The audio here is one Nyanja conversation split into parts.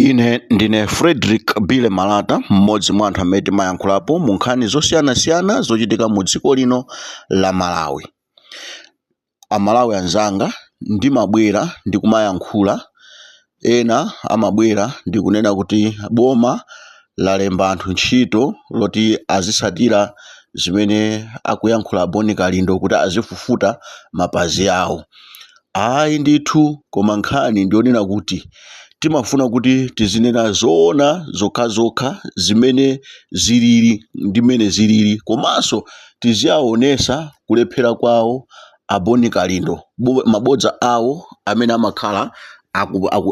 Ine ndine Frederick Bile Malata, mmodzi mwa anthu amene timayankhulapo mu nkhani zosiyanasiyana zochitika mu dziko lino la Malawi. Amalawi anzanga, ndimabwera ndi kumayankhula, ena amabwera ndi kunena kuti boma lalemba anthu ntchito loti azitsatira zimene akuyankhula Boni Kalindo kuti azifufuta mapazi awo. Ayi ndithu, koma nkhani ndi yonena kuti timafuna kuti tizinena zoona zokhazokha zimene zilili ndi mmene zilili komanso tiziaonesa kulephera kwawo a Bon Kalindo mabodza awo amene amakhala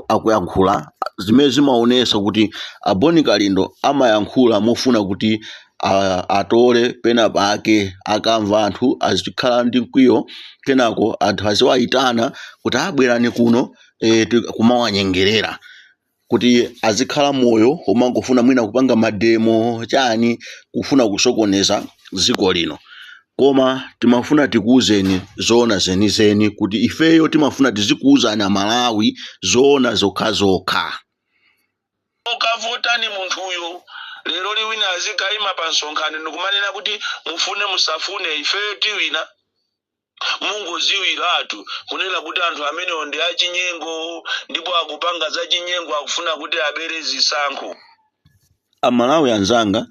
akuyankhula zimene zimaonesa kuti a Bon Kalindo amayankhula mofuna kuti a- atole pena pake akamva anthu azikhala ndi mkwiyo kenako anthu aziwayitana kuti abwerani kuno e, kumawanyengerera kuti azikhala moyo omangofuna mwina kupanga mademo chani kufuna kusokoneza dziko lino koma timafuna tikuwuzeni zoona zenizeni kuti ifeyo timafuna tizikuwuzani amalawi zoona zokhazokha ukavutani munthuyo lero wina azikaima pa msonkhano ndikumanena kuti mufune musafune ifeyo tiwina mungoziwiratu kunena kuti anthu amenewo ndi achinyengo ndipo akupanga za chinyengo akufuna kuti abere zisankho amalawi anzanga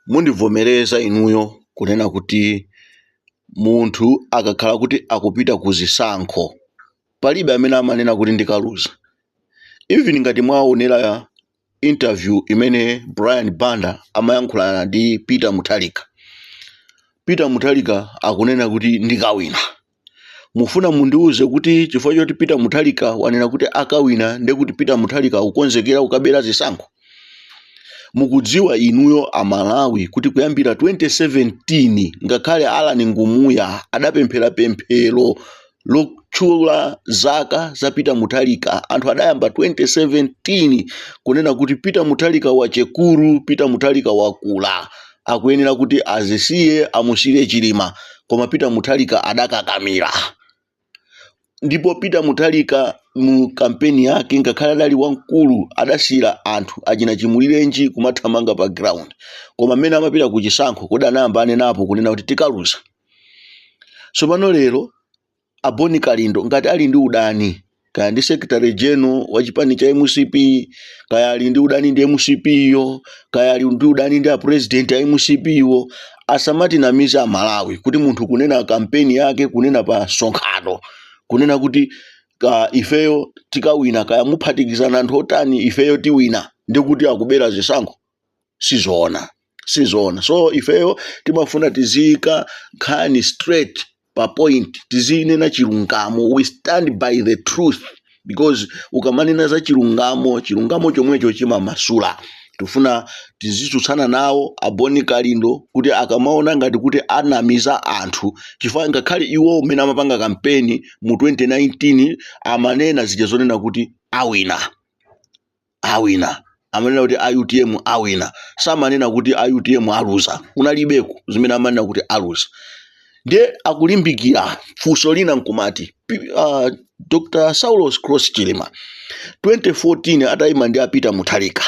mundivomereza inuyo kunena kuti munthu akakhala kuti akupita ku zisankho palibe amene amanena kuti ndikaluza even ngati mwaonera interview imene brian banda amayankhulana ndi peter mutharika peter mutharika akunena kuti ndikawina mufuna mundiuze kuti chifukwa choti peter mutharika wanena kuti akawina ndekuti peter mutharika akukonzekera kukabera zisankho mukudziwa inuyo amalawi kuti kuyambira 2017 ngakhale alan ngumuya adapemphera pemphero lotchula zaka za peter mutharika anthu adayamba 2017 kunena kuti peter mutharika wachikulire peter mutharika wakula akuyenera kuti azisiye amusiire chilima koma peter mutharika adakakamira ndipo peter mutharika mu kampeni yake ngakhale adali wamkulu adasiyira anthu achina chimulirenji kumathamanga pa ground koma mmene amapita ku chisankho kodi anayamba anenapo kunena kuti tikaluza tsopano lero a boni kalindo ngati ali ndi udani kaya ndi secretary general wa chipani cha mcp kaya ali ndi udani ndi mcp yo kaya ali ndi udani ndi apresident a mcp wo asamatinamize amalawi kuti munthu kunena kampeni yake kunena pa msonkhano kunena kuti ifeyo tikawina kaya muphatikizana anthu otani ifeyo tiwina ndikuti akubera zisankho sizoona sizoona so ifeyo timafuna tiziyika nkhani straight pa point tizinena chilungamo we stand by the truth because ukamanena za chilungamo chilungamo chomwecho chimamasula tifuna tizitsutsana nawo a Bon Kalindo kuti akamaona ngati kuti anamiza anthu chifukwa ngakhale iwo mmene amapanga kampeni mu 2019 amanena zija zonena kuti awina awina amanena kuti utm awina samanena kuti utm aluza kunalibeko zimene amanena kuti aluza ndiye akulimbikira funso lina nkumati P- ah, dr Saulos Klaus Chilima 2014 atayima ndi a Peter Mutharika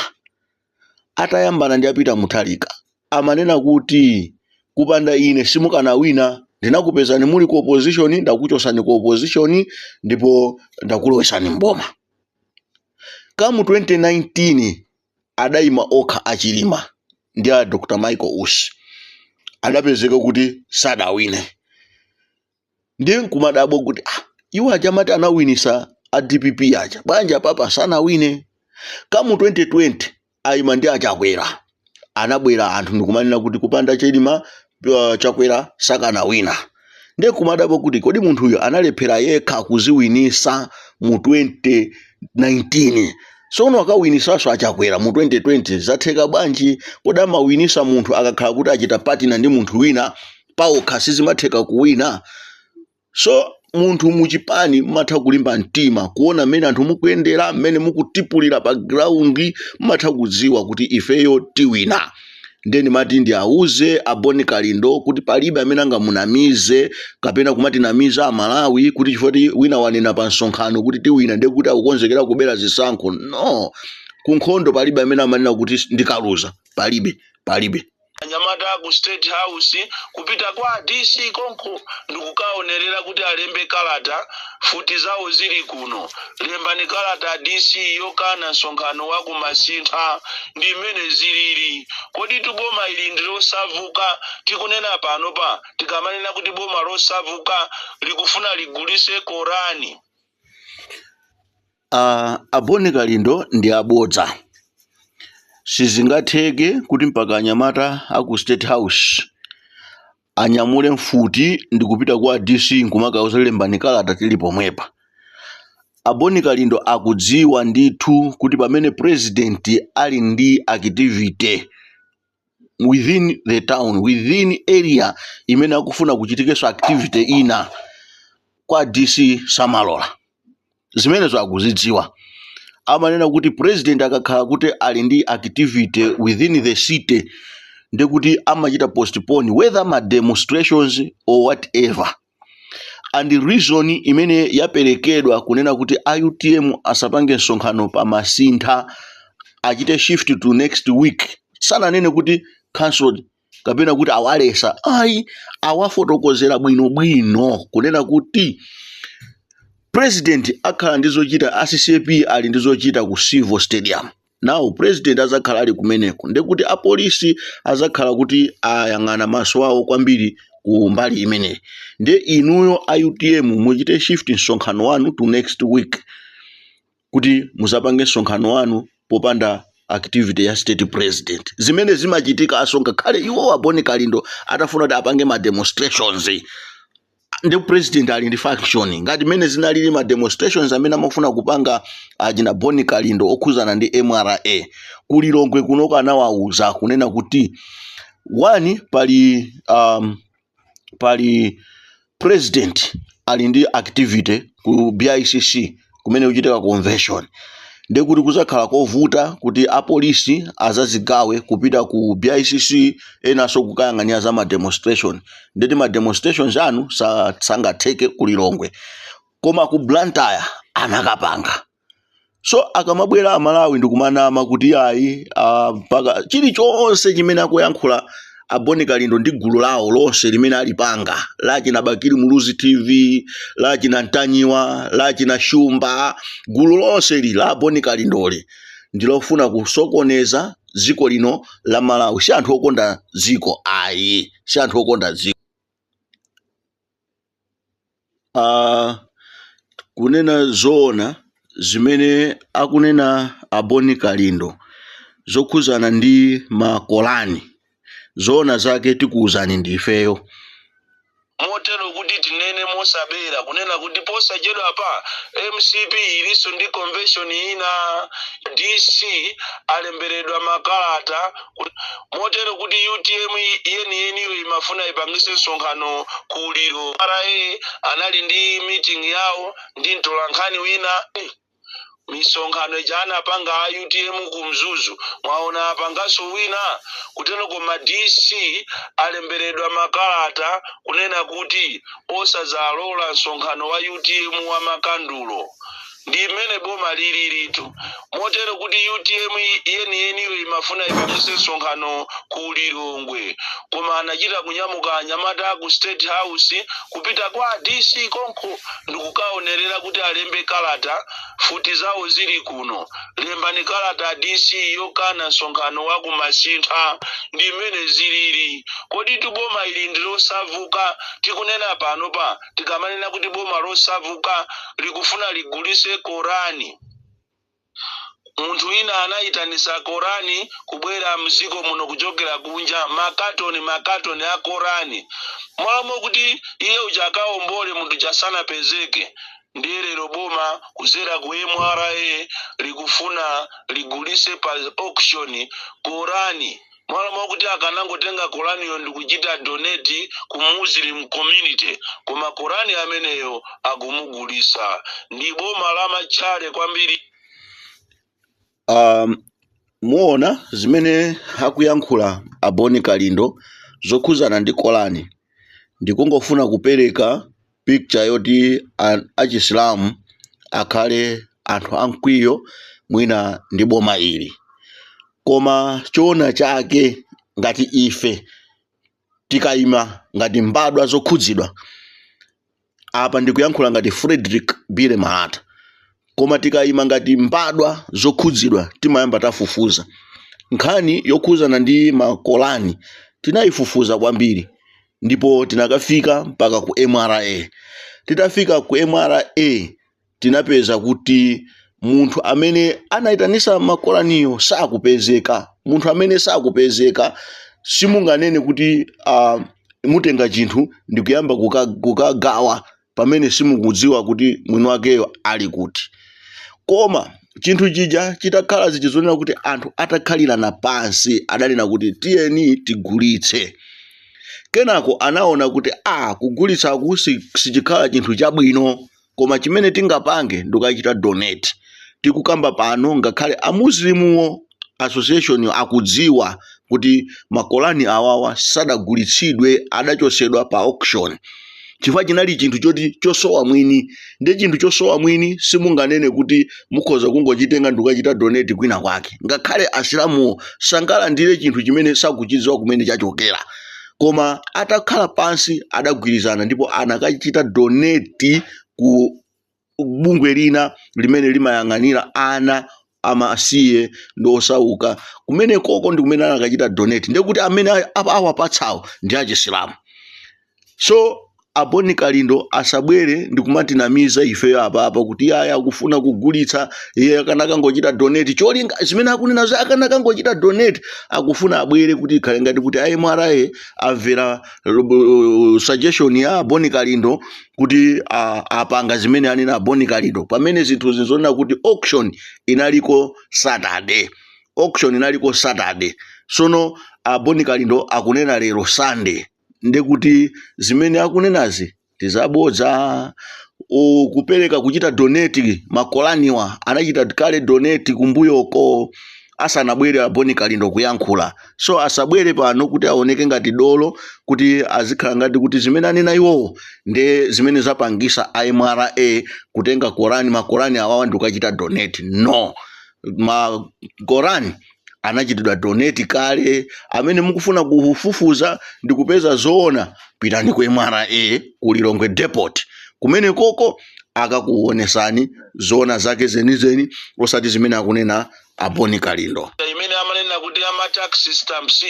atayambana ndi a Peter Mutharika amanena kuti kupanda ine simukanawina ndinakupezani muli ku opposition ndakuchosani ku opposition ndipo ndakulowesani mboma Come 2019 adaima okha a Chilima ndi a Dr Michael Usi adapezeka kuti sadawine ndiye nkumadabwa kuti ah, iwo aja amati anawinisa a dpp aja bwanji apapa sanawine come 2020 ayima ndi achakwera anabwera anthu ndikumanena kuti kupanda chilima uh, chakwera sakanawina ndiye kumadabwa kuti kodi munthuyo analephera yekha kuziwinisa mu 2019 sono akawinisanso achakwera mu 2020 zatheka bwanji kodi amawinisa munthu akakhala kuti achita partner ndi munthu wina paokha sizimatheka kuwina so munthu muchipani mmatha kulimba mtima kuona mmene anthu mukuyendera mmene mukutipulira pa ground mmatha kudziwa kuti ifeyo tiwina nde ndimati ndiwauze a Bon Kalindo kuti palibe amene angamunamize kapena kumatinamiza amalawi kuti chifukwa choti wina wanena pa msonkhano kuti tiwina ndiye kuti akukonzekera kubera zisankho no kunkhondo palibe amene amanena kuti ndikaluza palibe palibe anyamata aku state house kupita kwa dc konko ndikukaonerera kuti alembe kalata futi zawo zili kuno lembani kalata a dc yokana msonkhano wa ku Masintha ndi mmene zilili koditu boma ili ndi losauka tikunena panopa tikamanena kuti boma losauka likufuna ligulise korani A, a Boni Kalindo ndi abodza. Sizingatheke kuti mpaka anyamata a ku State House anyamule mfuti ndi kupita kwa DC nkumakauza lembani kalata tili pomwepa. A Boni Kalindo akudziwa ndithu kuti pamene president ali ndi activity within the town within area imene akufuna kuchitikenso activity ina kwa dc samalola zimenezo akuzidziwa amanena kuti president akakhala kuti ali ndi activity within the city ndikuti amachita postpone whether ma demonstrations or whatever and reason imene yaperekedwa kunena kuti a utm asapange msonkhano pa masintha achite shift to next week sananene kuti cancelled kapena kuti awalesa ayi awafotokozera bwinobwino kunena kuti president akhala ndi zochita a ccp ali ndi zochita ku civo stadium now president azakhala ali kumeneko ndekuti apolisi azakhala kuti ayang'ana maso awo kwambiri ku mbali imeneyi nde inuyo a utm muchite shift msonkhano wanu to next week kuti muzapange msonkhano wanu popanda activity ya state president zimene zimachitika asonga khale iwo aboni kalindo atafuna kuti apange ma demonstrations ndi president ali ndi function ngati mene zinalili ma demonstrations amene amafuna kupanga achina Boni Kalindo okhuzana ndi MRA kulilongwe kunoko anawauza kunena kuti wani pali um, pali president ali ndi activity ku BICC kumene kukuchitika convention ndi kuti kuzakhala kovuta kuti apolisi azazigawe kupita ku bicc enanso kukayang'anira za ma demonstration ndekuti ma demonstrations anu sa- sangatheke ku lilongwe koma ku blantyre anakapanga so akamabwera amalawi ndikumanama kuti ayi ah, mpaka chilichonse chimene akuyankhula a Boni Kalindo ndi gulu lawo lonse limene alipanga lachina Bakili Muluzi TV lachina Ntanyiwa lachina Shumba gulu lonse ili la Boni Kalindoli ndilofuna kusokoneza dziko lino la Malawi si anthu okonda dziko ayi si anthu okonda dziko a Kunena zoona zimene akunena a Boni Kalindo zokhudzana ndi ma Korani, zoona zake tikuuzani ndi ifeyo. Motero kuti tinene mosabera kunena kuti posachedwapa mcp ilinso ndi convention ina, DC alemberedwa makalata motero kuti utm yeniyeniyo imafuna ipangise msonkhano ku uliro mra anali ndi meeting yawo ndi mtolankhani wina Eh, misonkhano ija anapanga a utm ku mzuzu mwaona apangaso wina kuteno koma dc alemberedwa makalata kunena kuti osazalola msonkhano wa utm wa makandulo ndi imene boma lililitu motero kuti utm yeniyeniyo imafuna ipangise msonkhano ku lilongwe koma anachita kunyamuka anyamata ku state house kupita kwa dc konko ndikukaonerera kuti alembe kalata futi zawo zili kuno lembani kalata dc yokana msonkhano wa kumasintha ndi mmene zilili kodi tuboma ili ndilosavuka tikunena pano pa tikamanena kuti boma losavuka likufuna ligulise korani munthu wina anayitanisa korani kubwera mziko muno kuchokera kunja makatoni makatoni a korani mwalamulo kuti iye uja akaombole munthu uja sanapezeke ndiye lero boma kuzera ku mra likufuna ligulise pa auction korani malo mwakuti akanangotenga koraniyo ndikuchita donate ku muslim community koma korani ameneyo akumugulisa ndi boma la matchale kwambiri um, muona zimene akuyankhula a bon kalindo zokhuzana ndi kolani ndikungofuna kupereka picture yoti an- achisilamu akhale anthu amkwiyo mwina ndi boma ili koma choona chake ngati ife tikayima ngati mbadwa zokhudzidwa apa ndikuyankhula ngati frederick billy malata koma tikayima ngati mbadwa zokhudzidwa timayamba tafufuza nkhani yokhudzana ndi makolani tinayifufuza kwambiri ndipo tinakafika mpaka ku mra titafika ku mra tinapeza kuti munthu amene anayitanisa makolaniyo sakupezeka munthu amene sakupezeka simunganene kuti uh, mutenga chinthu ndikuyamba kuka- kukagawa pamene simukudziwa kuti mwini wakeyo ali kuti koma chinthu chija chitakhala zija zonena kuti anthu atakhalirana pansi adanena kuti tiyeni tigulitse kenako anaona kuti a kugulitsaku si- sichikhala chinthu chabwino koma chimene tingapange ndikachita donate tikukamba pano ngakhale a Muslimuwo association yo akudziwa kuti ma Korani awawa sadagulitsidwe adachosedwa pa auction chifukwa chinali chinthu choti chosowa mwini ndi chinthu chosowa mwini simunganene kuti mukhoza kungochitenga ndikukachita donate kwina kwake ngakhale asilamuwo sangalandire chinthu chimene sakuchidziwa kumene chachokera koma atakhala pansi adagwirizana ndipo anakachita donate ku bungwe lina limene limayang'anira ana amasiye ndi osauka kumene koko ndi kumene anakachita donate ndiye kuti amene a- a- awapatsawo ndi achisilamu so a Boni Kalindo asabwere ndikumatinamiza ifeyo apapa kuti yayi akufuna kugulitsa iye akanakangochita donate cholinga zimene akunena za akanakangochita donate akufuna abwere kuti ikhale ngati kuti a MRA amvera uh, suggestion ya a Boni Kalindo kuti a- apanga zimene anena a Boni Kalindo pamene zinthuzi nzonena kuti auction inaliko saturday auction inaliko saturday sono a Boni Kalindo akunena lero sunday nde kuti zimene akunenazi ndi zabodza u- kupereka kuchita donate ma Koraniwa anachita kale donate kumbuyoko asanabwere a Boni Kalindo kuyankhula so asabwere pano kuti aoneke ngati dolo kuti azikhala ngati kuti zimene anena iwowo nde zimene zapangisa a MRA kutenga Korani ma Korani awawa ndi kukachita donate no ma Korani anachitidwa donate kale amene mukufuna kufufuza ndi kupeza zoona pitani ku MRA ku Lilongwe depot kumene koko akakuonesani zoona zake zenizeni osati zimene akunena a Boni Kalindo. imene amanena kuti ama tax stamps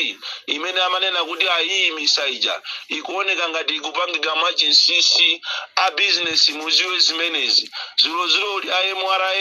imene amanena kuti ayiimisa ija ikuoneka ngati ikupangika mwachinsinsi a business muziwe zimenezi dzulodzuloli a MRA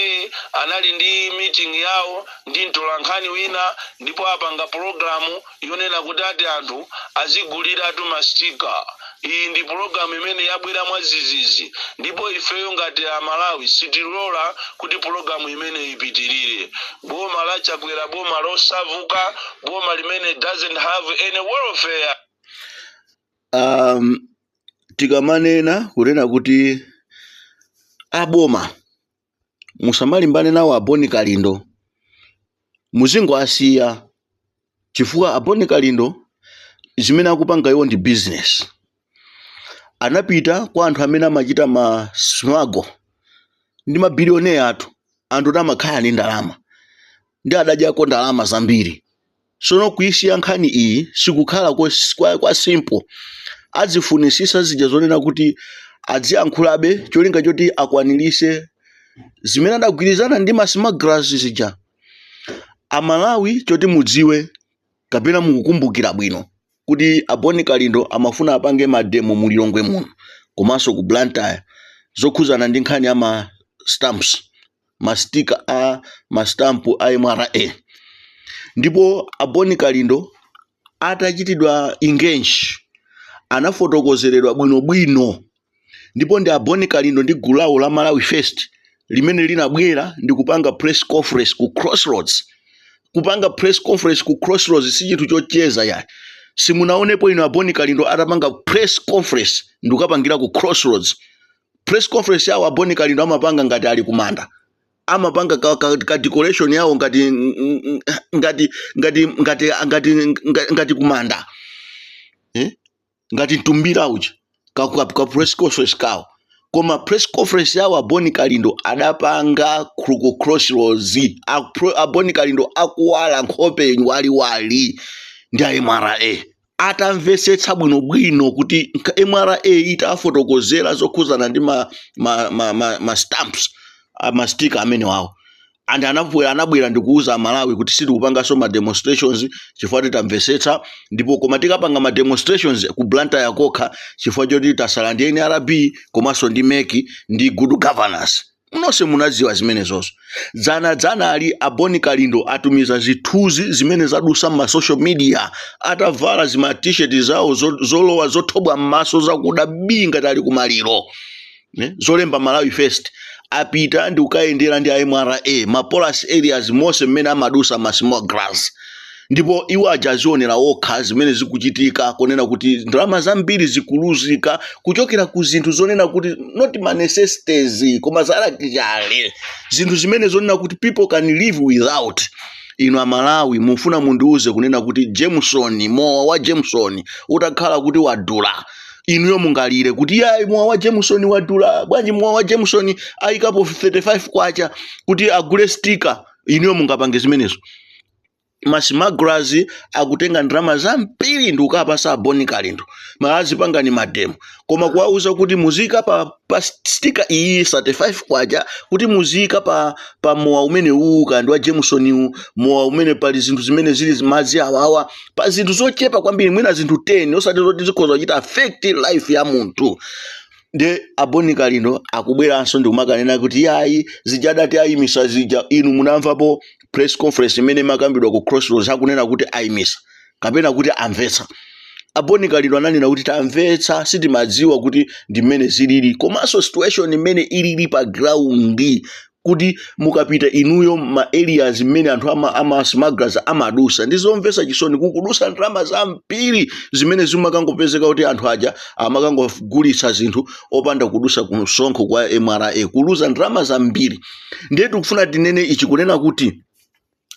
anali ndi meeting yawo ndi mtolankhani wina ndipo apanga pologalamu yonena kuti ati anthu aziguliratu ma sticker. Iyi ndi pulogalamu imene yabwera mwadzidzidzi ndipo ifeyo ngati Amalawi sitilola kuti pulogalamu imeneyi ipitirire. Boma la Chakwera boma losavuka, boma limene doesn't have any welfare. um, tikamanena kunena kuti aboma musamalimbane nawo a Boni Kalindo muzingowasiya chifukwa a Boni Kalindo zimene akupanga iwo ndi business anapita kwa anthu amene amachita ma smuggle ndi mabilioneya athu anthu oti amakhala ndi ndalama ndi adadyako ndalama zambiri sono kuisiya nkhani iyi sikukhala kos- kwa, kwa simple adzifunisisa zija zonena kuti adziyankhulabe cholinga choti akwanirise zimene adagwirizana ndi ma smugglers zija amalawi choti mudziwe kapena mukukumbukira bwino kuti aboni kalindo amafuna apange mademo mu lilongwe muno komanso ku blantyre zokhuzana ndi nkhani ya ma stamps mastika a mastampu a mra ndipo aboni kalindo atachitidwa engage anafotokozeredwa bwinobwino ndipo ndi aboni kalindo ndi gulu lawo la malawi first limene linabwera ndi kupanga press conference ku crossroads kupanga press conference ku crossroads si chinthu chocheza ayi simunaonepo inu aboni kalindo atapanga press conference ndikukapangira ku crossroads press conference yawo aboni kalindo amapanga ngati ali kumanda amapanga ka, ka, ka decoration yawo ngati ngati ngati ngati ngati ngati, ngati kumanda eh? ngati mtumbira uja ka, ka, ka press conference kawo koma press conference yawo aboni kalindo adapanga ku crossroads Apro- aboni kalindo akuwala nkhope waliwali ndi a mra atamvetsetsa bwinobwino kuti nka- mra itafotokozera zokhuzana ndi ma, ma, ma, ma, ma stamps a mastika amenewawo and anabwera anabwera ndikuuza amalawi kuti sitikupanganso ma demonstrations chifukwa tamvetsetsa ndipo koma tikapanga ma demonstrations ku blantyre kokha chifukwa choti tasala ndi nrb komanso ndi mec ndi good governance Nonse munadziwa zimenezozo. Dzanadzanali, a Boni Kalindo atumiza zithunzi zimene zadusa m'ma social media atavala zima T-shirt zawo zo- zolowa zothobwa m'maso zakuda bii ngati ali kumaliro. Ne? Zolemba Malawi First apita ndi kukayendera ndi a MRA, ma porous areas monse mmene amadusa ma smugglers. ndipo iwo aja azionera okha zimene zikuchitika kunena kuti ndalama zambiri zikuluzika kuchokera ku zinthu zonena kuti not ma necessities koma za luxury zinthu zimene zonena kuti people can live without inu amalawi mufuna mundiuze kunena kuti jameson mowa wa jameson utakhala kuti wadula inuyo mungalire kuti yayi mowa wa jameson wadula bwanji mowa wa jameson ayikapo 35 kwacha kuti agule stika inuyo mungapange zimenezo ma smugglers akutenga ndalama zambiri ndi kukapasa a Boni Kalindo amvekere pangani mademo koma kuwauza kuti muziyika pa, pa stika iyi 35 kwacha kuti muziyika pa, pa mowa umene uwu uka ndi wa Jameson uwu mowa umene pali zinthu zimene zili zi- madzi awawa pa zinthu zochepa kwambiri mwina zinthu 10 osati zoti zikhoza kuchita affect life ya munthu nde aboni kalindo akubweranso ndikumakanena kuti yayi zija adati ayimisa zija inu munamvapo press conference imene imakambidwa ku crossroads akunena kuti ayimisa kapena kuti amvetsa aboni kalindo ananena kuti tamvetsa sitimadziwa kuti ndi mmene zilili komanso situation imene ilili pa ground kuti mukapita inuyo ma areas mmene anthu ama, ama smugglers amadusa ndi zomvetsa chisoni kukudusa ndalama zambiri zimene zimakangopezeka kuti anthu aja amakangogulitsa zinthu opanda kudusa ku msonkho kwa mra kuluza ndalama zambiri ndiye tikufuna tinene ichi kunena kuti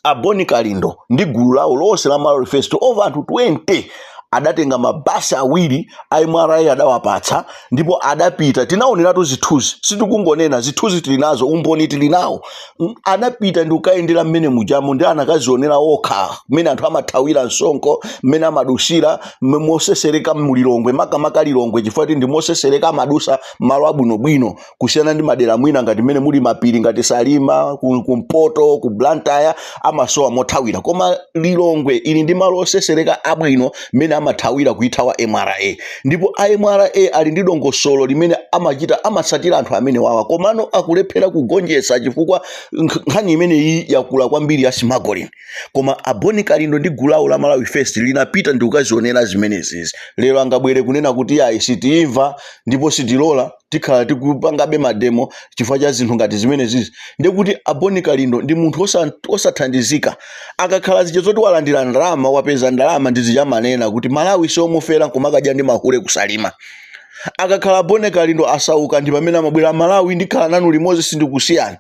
aboni kalindo ndi gulu lawo lonse la malawi first over anthu 20 adatenga mabasi awiri a mra adawapatsa ndipo adapita tinaoneratu zithunzi sitikungonena zithunzi tili nazo umboni tili nawo adapita ndi ukayendera mmene mujamo ndi anakazionera okha mmene anthu amathawira msonkho mmene amadusira mme- mosesereka mulilongwe makamaka lilongwe chifukwa kuti ndi mosesereka amadusa malo abwinobwino kusiyana ndi madera mwina ngati mmene muli mapiri ngati salima ku- kumpoto ku blantyre amasowa mothawira koma lilongwe ili ndi malo osesereka abwino mmene amathawira kuithawa mra ndipo a mra ali ndi dongosolo limene amachita amatsatira anthu amene wawa komano akulephera kugonjetsa chifukwa nkh- nkhani imeneyi yakula kwambiri ya smuggling koma aboni kalindo ndi gulu lawo la malawi first linapita ndikukazionera zimenezizi lero angabwere kunena kuti yayi sitimva ndipo sitilola tikhala tikupangabe mademo chifukwa cha zinthu ngati zimenezizi ndekuti aboni kalindo ndi munthu osa- osathandizika akakhala zija zoti walandira ndalama wapeza ndalama ndi zija amanena kuti malawi siomufera nkumakadya ndi mahule kusalima akakhala aboni kalindo asauka ndi pamene amabwera malawi ndikhala nanu limodzi sindikusiyani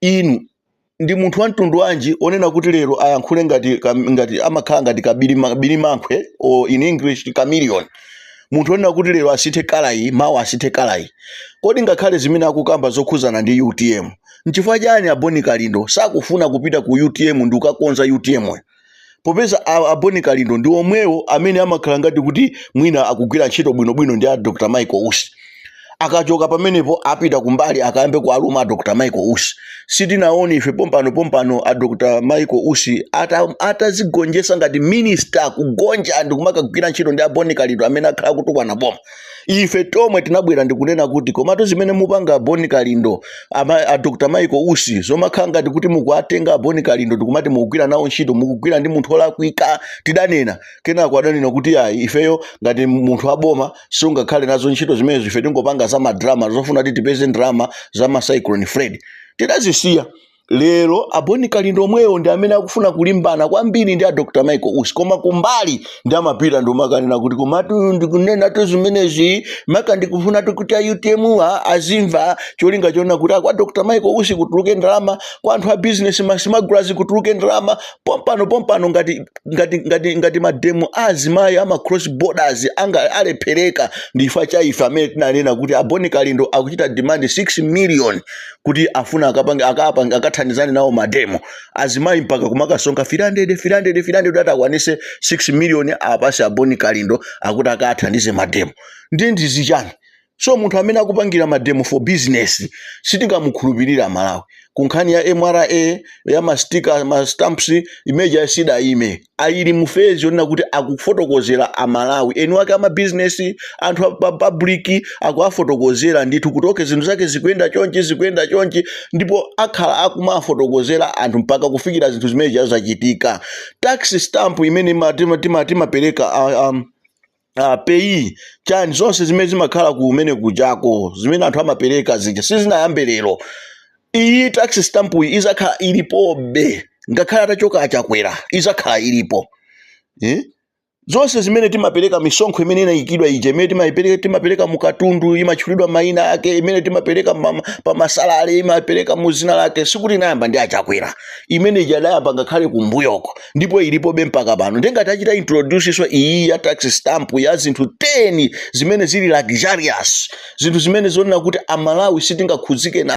inu ndi munthu wamtundu wanji onena kuti lero ayankhule ngati kam- ngati amakhala ngati kabirima- birimankhwe or in english chameleon munthu onena kuti lero asinthe kalayi mawa asinthe kalayi kodi ngakhale zimene akukamba zokhuzana ndi utm nchifukwa chani aboni kalindo sakufuna kupita ku utm ndi ukakonza utm -yo? popeza a, a boni kalindo ndi omwewo amene amakhala ngati kuti mwina akugwira ntchito bwinobwino ndi a dr michael usi akachoka pamenepo apita kumbali akayambe kualuma a dr michael usi sitinaone ife pompano pompano a dr michael usi ata- atazigonjetsa ngati minista kugonja ndi kumakagwira ntchito ndi a boni kalindo amene akhala akutukwana boma ife tomwe tinabwera ndikunena kuti komatu zimene mupanga aboni kalindo ama, a dr michael usi zomakhala ngati kuti mukuwatenga aboni kalindo ndikumati mukugwira nawo ntchito mukugwira ndi munthu olakwika tidanena kenako adanena kuti ayi ifeyo ngati munthu waboma sungakhale nazo ntchito zimenezo ife tingopanga za madrama zofuna kuti tipeze ndrama za macyclone fred tidazisiya lero a Boni Kalindo omwewo ndi amene akufuna kulimbana kwambiri ndi a Dr Michael Usi koma kumbali ndi amapita ndikumakanena kuti komatu ndikunenatu zimenezi maka ndikufunatu kuti a UTM azimva cholinga chonena kuti kwa Dr Michael Usi kutuluke ndalama kwa anthu a business masimagulazi kutuluke ndalama pompano pompano ngati mademo a azimayi ama cross borders alephereka ndi chifukwa cha ife amene tinanena kuti a Boni Kalindo akuchita demand 6 million kuti afuna akapange akapange akathandizane nawo mademo azimayi mpaka kumakasonkha 300 300 300 kuti akwanise 6 million apasi aboni kalindo akuti akathandize mademo ndi ndizi chani so munthu amene akupangira mademo for business sitingamukhulupirira malawi kunkhani ya mra ya mastika ma stamps imeja sidayime ili mu phase yonena kuti akufotokozera a Malawi eni wake ama business anthu a public akuwafotokozera ndithu kuti okay zinthu zake zikuyenda chonchi zikuyenda chonchi ndipo akhala akumafotokozera anthu mpaka kufikira zinthu zimene zija zachitika tax stamp imene ima- tima- tima- timapereka ah, um, ah, PAYE chani zonse zimene zimakhala kumene kujako zimene anthu amapereka zija sizinayambe lero iyi tax stamp iyi izakhala ilipobe ngakhale atachoka a Chakwera izakhala ilipo eh? zonse zimene timapereka misonkho imene inayikidwa ija imene timayipereka timapereka mukatundu imatchulidwa mayina ake imene timapereka ma- pa ma salary imapereka mu zina lake sikuti inayamba ndi a Chakwera imene ija idayamba ngakhale kumbuyoko ndipo ilipobe mpaka pano ndiye ngati achita introducenso iyi ya tax stamp ya zinthu 10 zimene zili luxurious zinthu zimene zonena kuti a Malawi sitingakhudzike na